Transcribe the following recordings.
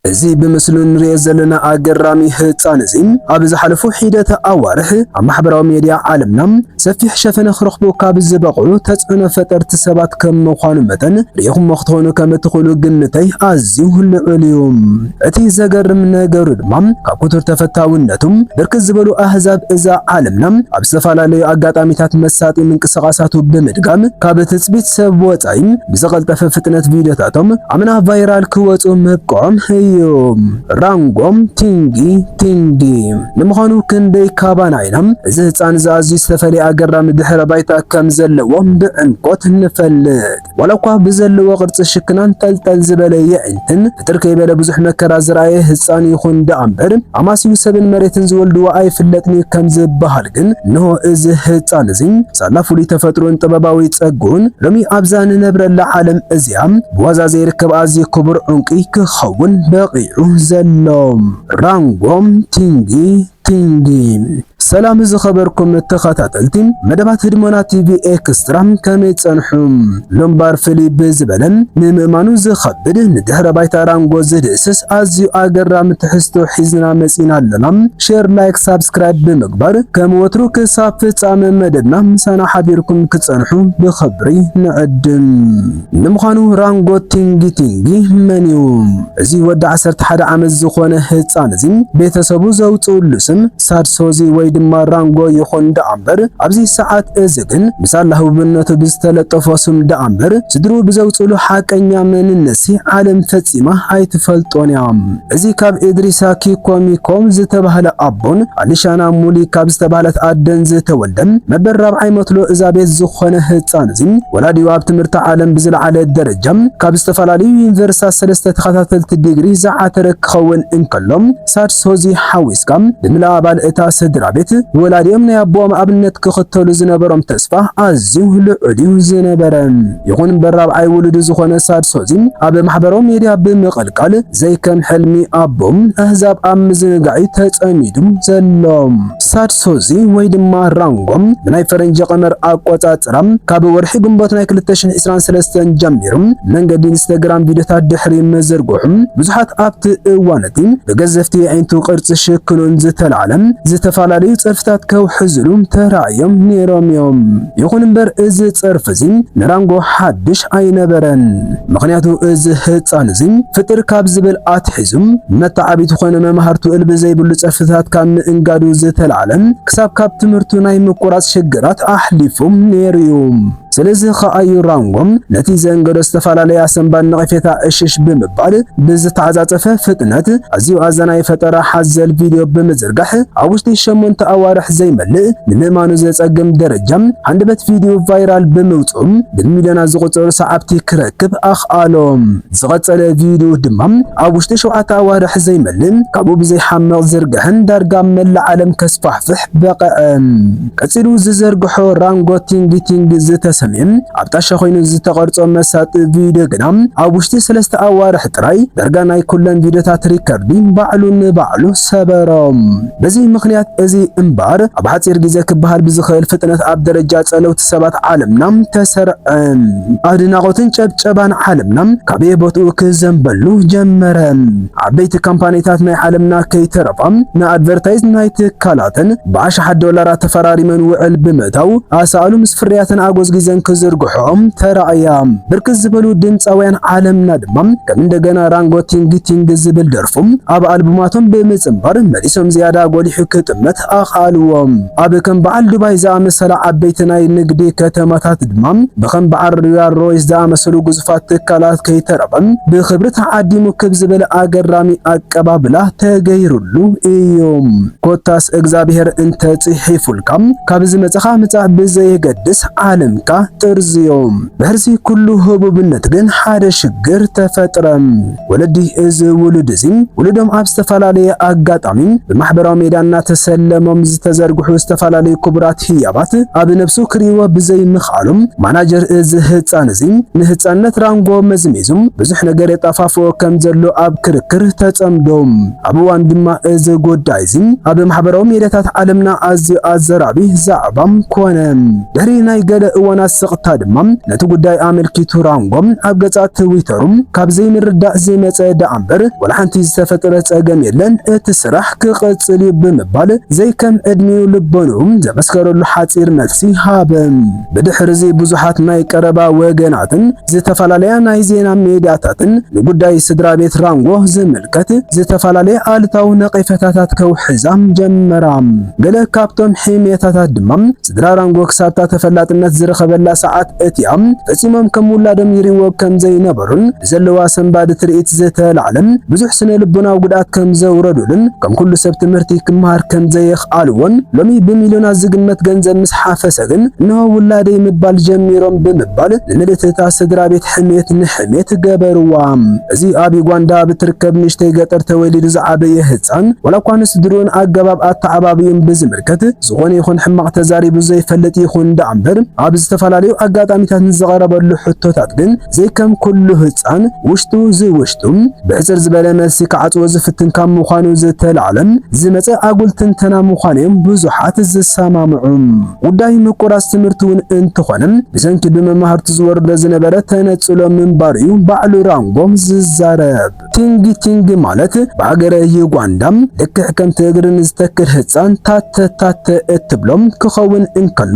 እዚ ብምስሉ እንሪኦ ዘለና ኣገራሚ ህጻን እዚ ኣብ ዝሓለፉ ሒደተ ኣዋርሕ ኣብ ማሕበራዊ ሜድያ ዓለምና ሰፊሕ ሸፈነ ክረኽቡ ካብ ዝበቕዑ ተጽዕኖ ፈጠርቲ ሰባት ከም ምዃኑ መጠን ርኢኹሞ ክትኾኑ ከም እትኽእሉ ግምተይ ኣዝዩ ልዑል እዩ። እቲ ዘገርም ነገሩ ድማ ካብ ክቱር ተፈታውነቱ ብርክት ዝበሉ ኣህዛብ እዛ ዓለምና ኣብ ዝተፈላለዩ ኣጋጣሚታት መሳጢ ምንቅስቓሳቱ ብምድጋም ካብ ትጽቢት ሰብ ወጻኢ ብምፍላይ ብዝቐልጠፈ ፍጥነት ቪድዮታቶም ኣብ ናብ ቫይራል ክወጹ ምብቅዖም እዩ። ራንጎ ቲንጊ ቲንዲ ንምዃኑ ክንደይ ካባና ኢና እዚ ህጻን እዚ ኣዝዩ ዝተፈለየ ኣገራሚ ድሕረ ባይታ ከም ዘለዎ ብዕምቆት ንፈልጥ? ዋላ እኳ ብዘለዎ ቅርጺ ሽክናን ጠልጠል ዝበለ የዒንትን ፍጥር ከይበለ ብዙሕ መከራ ዝረኣየ ህጻን ይኹን ደኣ እምበር ኣማስዩ ሰብን መሬትን ዝወልድዎ ኣይፍለጥን እዩ ከም ዝበሃል ግን እንሆ እዚ ህጻን እዚ ሳላ ፍሉይ ተፈጥሮኡን ጥበባዊ ጸግኡን ሎሚ ኣብዛ ንነብረላ ዓለም እዚኣ ብዋዛ ዘይርከብ ኣዝዩ ክቡር ዑንቂ ክኸውን በቒዑ ዘሎ ራንጎ ቲንጊ ቲንጊ ሰላም ዝኸበርኩም ተኸታተልቲ መደባት ህድሞና ቲቪ ኤክስትራ ከመይ ጸንሑ? ምንባር ፍልይ ብዝበለን ንምእማኑ ዝኸብድ ንድሕረ ባይታ ራንጎ ዝድህስስ ኣዝዩ ኣገራሚ ትሕዝቶ ሒዝና መጺእና ኣሎና። ሼር ላይክ ሳብስክራይብ ብምግባር ከም ወትሩ ክሳብ ፍጻመ መደብና ምሳና ሓቢርኩም ክጸንሑ ብኽብሪ ንዕድም። ንምዃኑ ራንጎ ቲንጊ ቲንጊ መንዩ? እዚ ወዲ ዓሰርተ ሓደ ዓመት ዝኾነ ህጻን እዚ ቤተሰቡ ዘውጽእሉ ስም ሳድሶዚ ወይ ድማ ራንጎ ይኹን ደኣምበር ኣብዚ ሰዓት እዚ ግን ምስ ኣላህውነቱ ብዝተለጠፎ ስም ደኣምበር ስድርኡ ብዘውጽሉ ሓቀኛ መንነትሲ ዓለም ፈጺማ ኣይትፈልጦን እያ። እዚ ካብ እድሪሳ ኪኮ ሚኮ ዝተባህለ ኣቦን ኣሊሻና ሙሊ ካብ ዝተባህለት ኣደን ዝተወልደ መበል ራብዓይ መትሎ እዛ ቤት ዝኾነ ህጻን እዚ ወላዲኡ ኣብ ትምህርቲ ዓለም ብዝለዓለ ደረጃ ካብ ዝተፈላለዩ ዩኒቨርሲታት ሰለስተ ተኸታተልቲ ዲግሪ ዝዓተረ ክኸውን እንከሎ ክሳድ ሶዚ ሓዊስካ ንምላእ ኣባል እታ ስድራቤት፣ ወላዲኦም ናይ ኣቦኦም ኣብነት ክኽተሉ ዝነበሮም ተስፋ ኣዝዩ ልዑል'ዩ ዝነበረ። ይኹን እምበር ራብዓይ ውሉዱ ዝኾነ ሳድ ሶዚ ኣብ ማሕበራዊ ሜድያ ብምቕልቃል ዘይከም ሕልሚ ኣቦኡ ኣህዛብ ኣብ ምዝንጋዕ'ዩ ተጸሚዱ ዘሎ። ሳድሶዚ ወይ ድማ ራንጎ ብናይ ፈረንጂ ቀመር ኣቆጻጽራ ካብ ወርሒ ግንቦት ናይ ክልተ ሽሕ ዕስራን ሰለስተን ጀሚሩ መንገዲ ኢንስተግራም ቪድዮታት ድሕሪ ምዝርግሑ ብዙሓት ኣብቲ እዋን'ቲ ብገዘፍቲ የዒንቱ ቅርጺ ሽክሉን ዝተላዕለ ዝተፈላለዩ ጸርፍታት ከውሕዝሉ ተራእዮም ኔሮም'ዮም። ይኹን እምበር እዚ ጸርፊ እዚ ንራንጎ ሓድሽ ኣይነበረን። ምኽንያቱ እዚ ህጻን እዚ ፍጥር ካብ ዝብል ኣትሒዙ መተዓብይቱ ኮነ መማህርቱ እል ብዘይብሉ ጸርፍታት ካብ ምእንጋዱ ዝተላዕለ ክሳብ ካብ ትምህርቱ ናይ ምቁራጽ ሽግራት ኣሕሊፉ ነይሩ እዩ። ስለዚ ኸኣ እዩ ራንጎ ነቲ ዘእንገዶ ዝተፈላለየ ኣሰንባድ ነቐፌታ ዕሽሽ ብምባል ብዝተዓጻጸፈ ፍጥነት ኣዝዩ ኣዛናዪ ፈጠራ ሓዘል ቪድዮ ብምዝ ዝርጋሐ ኣብ ውሽጢ ሸሞንተ ኣዋርሕ ዘይመልእ ንምእማኑ ዘጸግም ደረጃ ሃንደበት ቪድዮ ቫይራል ብምውጽኡ ብሚልዮናት ዝቑጸሩ ሰዓብቲ ክረክብ ኣኽኣሎ። ዝቐጸለ ቪድዮ ድማ ኣብ ውሽጢ ሸውዓተ ኣዋርሕ ዘይመልእ ካብኡ ብዘይሓምቕ ዝርግሐን ዳርጋ ኣብ መላእ ዓለም ከስፋሕፍሕ በቐዐ። ቀጺሉ ዝዘርግሖ ራንጎ ቲንግ ቲንግ ዝተሰምየ ኣብ ጣሻ ኮይኑ ዝተቐርጾ መሳጢ ቪድዮ ግና ኣብ ውሽጢ ሰለስተ ኣዋርሕ ጥራይ ዳርጋ ናይ ኩለን ቪድዮታት ሪከርዲ ባዕሉ ንባዕሉ ሰበሮም። በዚ ምኽንያት እዚ እምበር ኣብ ሓጺር ግዜ ክበሃል ብዝኽእል ፍጥነት ኣብ ደረጃ ጸለውቲ ሰባት ዓለምና ተሰርዐ። ኣድናቖትን ጨብጨባን ዓለምና ካበየ ቦትኡ ክዘንበሉ ጀመረ። ዓበይቲ ካምፓኒታት ናይ ዓለምና ከይተረፋ ንኣድቨርታይዝ ናይ ትካላተን ብኣሽሓት ዶላራት ተፈራሪመን ውዕል ብምእታው ኣሳእሉ ምስ ፍርያተን ኣጎዝጊዘን ክዝርግሕኦም ተራእያ። ብርክት ዝበሉ ድምጻውያን ዓለምና ድማ ከም እንደገና ራንጎቲንግቲንግ ዝብል ደርፊ ጾም ኣብ ኣልቡማቶም ብምጽንባር መሊሶም ዝያዳ ጎሊሑ ክጥመት ኣኽኣልዎ። ኣብ ከም በዓል ዱባይ ዝኣመሰላ ዓበይቲ ናይ ንግዲ ከተማታት ድማ ብኸም በዓል ሮያል ሮይስ ዝኣመሰሉ ግዙፋት ትካላት ከይተረፈ ብኽብሪ ተዓዲሙ ክብ ዝብል ኣገራሚ ኣቀባብላ ተገይሩሉ ኢዩ። ኮታስ እግዝኣብሄር እንተ ጽሒፉልካ ካብ ዝመጸኻ ምጻእ ብዘየገድስ ዓለምካ ጥርዝዮ። ድሕርዚ ኩሉ ህቡብነት ግን ሓደ ሽግር ተፈጥረ። ወለዲ እዚ ውሉድ እዚ ውሉዶም ኣብ ዝተፈላለየ ኣጋጣሚ ብማሕበራዊ ሜዳ እናተሰለሞም ዝተዘርግሑ ዝተፈላለዩ ክቡራት ህያባት ኣብ ነብሱ ክርእይዎ ብዘይምኽኣሎም ማናጀር እዚ ህፃን እዚ ንህፃንነት ራንጎ መዝሚዙ ብዙሕ ነገር የጣፋፍኦ ከም ዘሎ ኣብ ክርክር ተፀምዶ ኣብ እዋን ድማ እዚ ጉዳይ እዚ ኣብ ማሕበራዊ ሜዳታት ዓለምና ኣዝዩ ኣዘራቢ ዛዕባ ኮነ። ድሕሪ ናይ ገለ እዋናት ስቕታ ድማ ነቲ ጉዳይ ኣመልኪቱ ራንጎ ኣብ ገፃ ትዊተር ምህላዉ ካብ ዘይምርዳእ ዝመጸ ደኣምበር ዋላ ሓንቲ ዝተፈጥረ ጸገም የለን፣ እቲ ስራሕ ክቕጽል እዩ ብምባል ዘይከም ዕድሚኡ ልቦንኡ ዘመስከረሉ ሓጺር መልሲ ሃበ። ብድሕርዚ ብዙሓት ናይ ቀረባ ወገናትን ዝተፈላለያ ናይ ዜና ሜድያታትን ንጉዳይ ስድራቤት ራንጎ ዝምልከት ዝተፈላለየ ኣሉታዊ ነቒፈታታት ከውሕዛ ጀመራ። ገለ ካብቶም ሕሜታታት ድማ ስድራ ራንጎ ክሳብታ ተፈላጥነት ዝረኸበላ ሰዓት እቲኣ ፈጺሞም ከም ውላዶም ይርእይዎ ከም ዘይነበሩን ብዘለዋ ሰንባዲ ትርኢት ዝተላዕለ ብዙሕ ስነ ልቦናዊ ጉድኣት ከም ዘውረዱሉን ከም ኩሉ ሰብ ትምህርቲ ክመሃር ከም ዘየኽኣልዎን ሎሚ ብሚልዮናት ዝግመት ገንዘብ ምስ ሓፈሰ ግን እነሆ ውላደይ ምባል ጀሚሮም ብምባል ንምልእቲ እታ ስድራ ቤት ሕሜት ንሕሜት ገበርዋ። እዚ ኣብ ዩጋንዳ ኣብ እትርከብ ንእሽተይ ገጠር ተወሊዱ ዝዓበየ ህጻን ዋላ እኳ ንስድርኡን ኣገባብ ኣተዓባብዩን ብዝምልከት ዝኾነ ይኹን ሕማቕ ተዛሪቡ ዘይፈልጥ ይኹን ደኣምበር ኣብ ዝተፈላለዩ ኣጋጣሚታት ንዝቐረበሉ ሕቶታት ግን ዘይከም ኩሉ ህጻን ውሽጡ ዝውሽጡ ብሕጽር ዝበለ መልሲ ክዓጽዎ ዝፍትን ካብ ምዃኑ ዝተላዕለ ዝመጸ ኣጉል ትንተና ምዃኑ እዮም ብዙሓት ዝሰማምዑ። ጉዳይ ምቁራጽ ትምህርቲ እውን እንትኾነ ብሰንኪ ብመማህርቱ ዝወርዶ ዝነበረ ተነጽሎ ምንባሩ እዩ ባዕሉ ራንጎ ዝዛረብ። ቲንግ ቲንግ ማለት ብሃገረ ዩጋንዳ ልክዕ ከምቲ እግሪ ንዝተክል ህጻን ታተ ታተ እትብሎም ክኸውን እንከሎ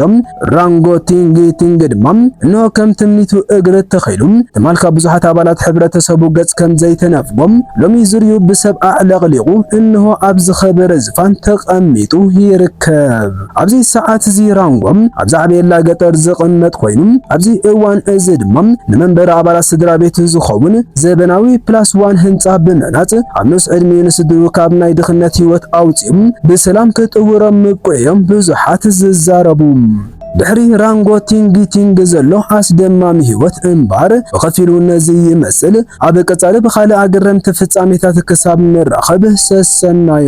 ራንጎ ቲንግ ቲንግ ድማ እንሆ ከም ትምኒቱ እግሪ ተኺሉ ትማል ካብ ብዙሓት ኣባላት ሕብረተሰቡ ገጽ ከም ዘይተነፍጎም ሎሚ ዝርዩ ብሰብ ኣዕለቕሊቑ እንሆ ኣብ ዝኸበረ ዝፋን ተቐሚጡ ይርከብ። ኣብዚ ሰዓት እዚ ራንጎ ኣብ ዛዕቤላ ገጠር ዝቕመጥ ኮይኑ ኣብዚ እዋን እዚ ድማ ንመንበሪ ኣባላት ስድራ ቤት ዝኸውን ዘበናዊ ፕላስ ዋን ህንፃ ብምህናፅ ኣብ ንኡስ ዕድሜኡ ንስድሩ ካብ ናይ ድኽነት ህይወት ኣውፂኡ ብሰላም ክጥውሮም ምብቅዑ እዮም ብዙሓት ዝዛረቡ። ድሕሪ ራንጎ ቲንግ ቲንግ ዘሎ ኣስደማሚ ህይወት እምባር ብኸፊሉ ነዚ ይመስል። ኣብ ቀጻሊ ብኻልእ ኣገረምቲ ፍጻሜታት ክሳብ ንራኸብ ሰሰናዩ።